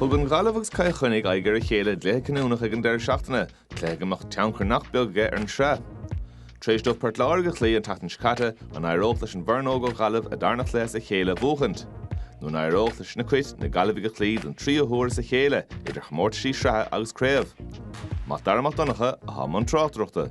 Thug an Ghaillimh agus Cill Chainnigh aghaidh ar a chéile i gcluiche cinniúnach ag an deireadh seachtaine, cluiche go mbeadh tionchar nach beag aige ar an tsraith. Tar éis dóibh Port Láirge a chloí an tseachtain seo caite, an éireodh leis an bhfoireann óg ó Ghaillimh a darna cluiche as a chéile a bhuachaint? Nó an éireodh leis na Cait, na Gaillimhigh a chloí don tríú huair as a chéile, idir chomórtaisí sraithe agus craobh? Mac Dara Mac Donncha, atá i mbun tráchtaireachta.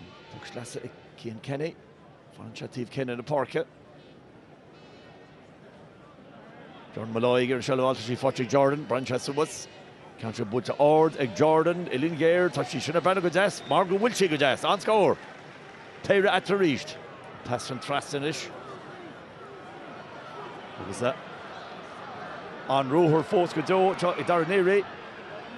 An poc sleasa ag Cian Kenny. Fanann sé taobh céanna na páirce. Jordan Molloy ag iarraidh seilbh a fháil. Tá sí faighte ag Jordan. Breathnaíonn sé suas. Ceann sé buailte ard ag Jordan. Uillinn ghéar. Tá sí sin ag breathnú go deas mar go bhfuil sí go deas. An-scór! Péire eatarthu arís. An pas sin trasna anois. Agus an-ruathar fós go deo anseo ag Darragh Neary.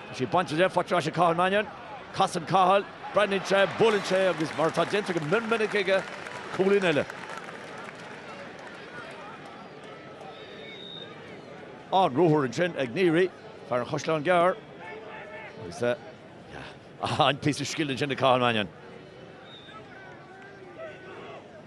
Tá sé bainte de, faighte ar ais ag Cathal Mannion. Casann Cathal, breathnaíonn sé, buaileann sé agus mar atá déanta go mion minic aige, cúilín eile. An-ruathar ansin ag Neary, fear an Chaisleáin Ghearr. Agus an píosa scil ansin ag Cathal Mannion.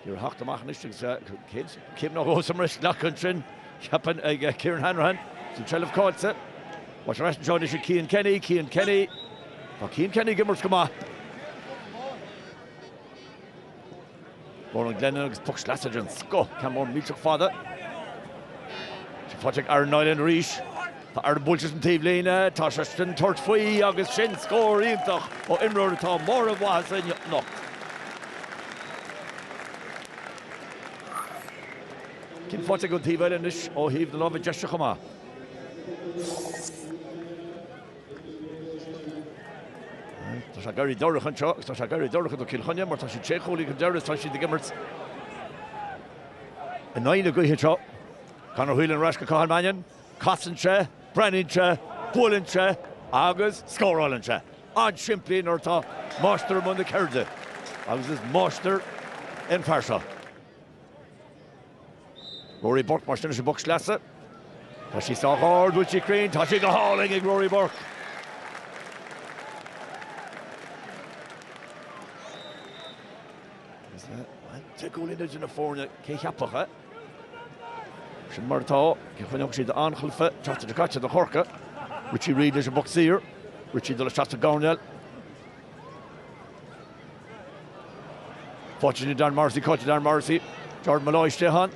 Ag iarraidh a theacht amach anois agus coiscéim nó dhó sa mbreis glactha ansin, cheapfainn, ag Kieran Hanrahan is an tseilbh caillte. Tá sé ar ais anseo anois ag Cian Kenny, Cian Kenny. Tá Cian Kenny ag imirt go maith. Ronan Glennon agus poc sleasa den scoth, ceann mór millteach fada. Tá sí faighte ag Aaron Niland arís. Tá Aaron buailte leis an taobhlíne, tá sé chun tabhairt faoi agus sin scór iontach ó imreoir atá i mbarr a mhaitheasa anocht. Ceann faighte aige ón taobh eile anois ó thaobh na láimhe deise chomh maith. Tá sé ag éirí dorcha anseo agus tá sé ag éirí dorcha do Chill Chainnigh mar tá siad sé chúilín chun deiridh is tá siad ag imirt in aghaidh na gaoithe anseo. Conor Whelan ar ais go Cathal Mannion. Casann sé, breathnaíonn sé, buaileann sé agus scórálann sé. An-simplí nuair atá máistir i mbun na ceirde, agus is máistir é an fear seo. Rory Burke mar sin leis an bpoc sleasa. Tá sí sách ard, an bhfuil sí cruinn, tá sé go hálainn ag Rory Burke! Is é, bhuel, te cúl idir na foirne, cé a cheapfadh, eh? Sin mar atá, cé chun dheanfadh sí do Anchailfe teacht idir caite do Chorca? Richie Reid leis an bpoc saor, Richie ag dul isteach sa gcoirnéal. Faighte ag Darren Morrissey, caillte ag Darren Morrissey, Jordan Molloy istigh ann.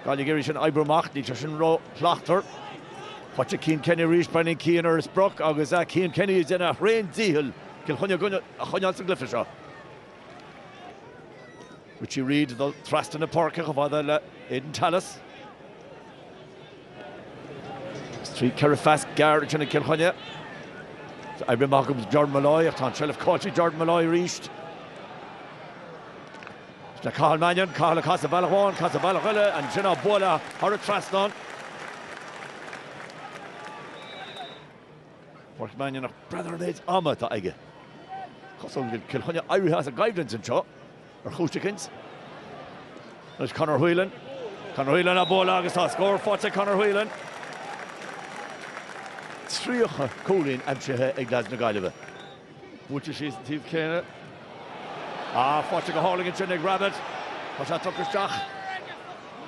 Gaillimh ag iarraidh é sin a oibriú amach, níl sé sin ró-shlachtmhar. Faighte ag Cian Kenny arís, breathnaíonn Cian ar an sprioc agus is é Cian Kenny atá ag déanamh a thréan dícheall Cill Chainnigh a choinneáil sa gcluiche seo. Richie Reid ag dul trasna na páirce chomh fada le Aidan Tallis. Is trí ceithre phas gearr déanta ag Cill Chainnigh. Tá oibrithe amach do Jordan Molloy ach tá an tseilbh caillte ag Jordan Molloy arís. Is le Cathal Mannion, Cathal ag casadh bealach amháin, casadh bealach eile, ansin á bualadh thar an trasnán. Pádraic Mannion breathnaigh an méid ama atá aige. Is cosúil go bhfuil Cill Chainnigh éirithe as an gcoimhlint anseo ar chúis éicint. Anois Conor Whelan. Conor Whelan á bualadh agus tá scór faighte ag Conor Whelan. 30 cúilín aimsithe ag leaids na Gaillimhe. Buailte síos an taobh céanna. Ah, faighte go hálainn ansin ag Rabbitt. Tá sé tugtha isteach.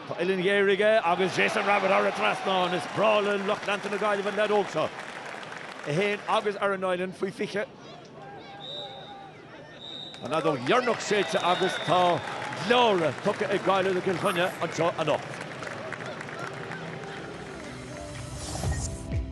Tá uillinn ghéar aige agus Jason Rabbitt thar an trasnán. Is breá le lucht leanta na Gaillimhe an leaid óg seo. É féin agus Aaron Niland faoi 20. An fheadóg dheireanach séidte agus tá gleadhradh tugtha ag Gaillimh do Chill Chainnigh anseo anocht.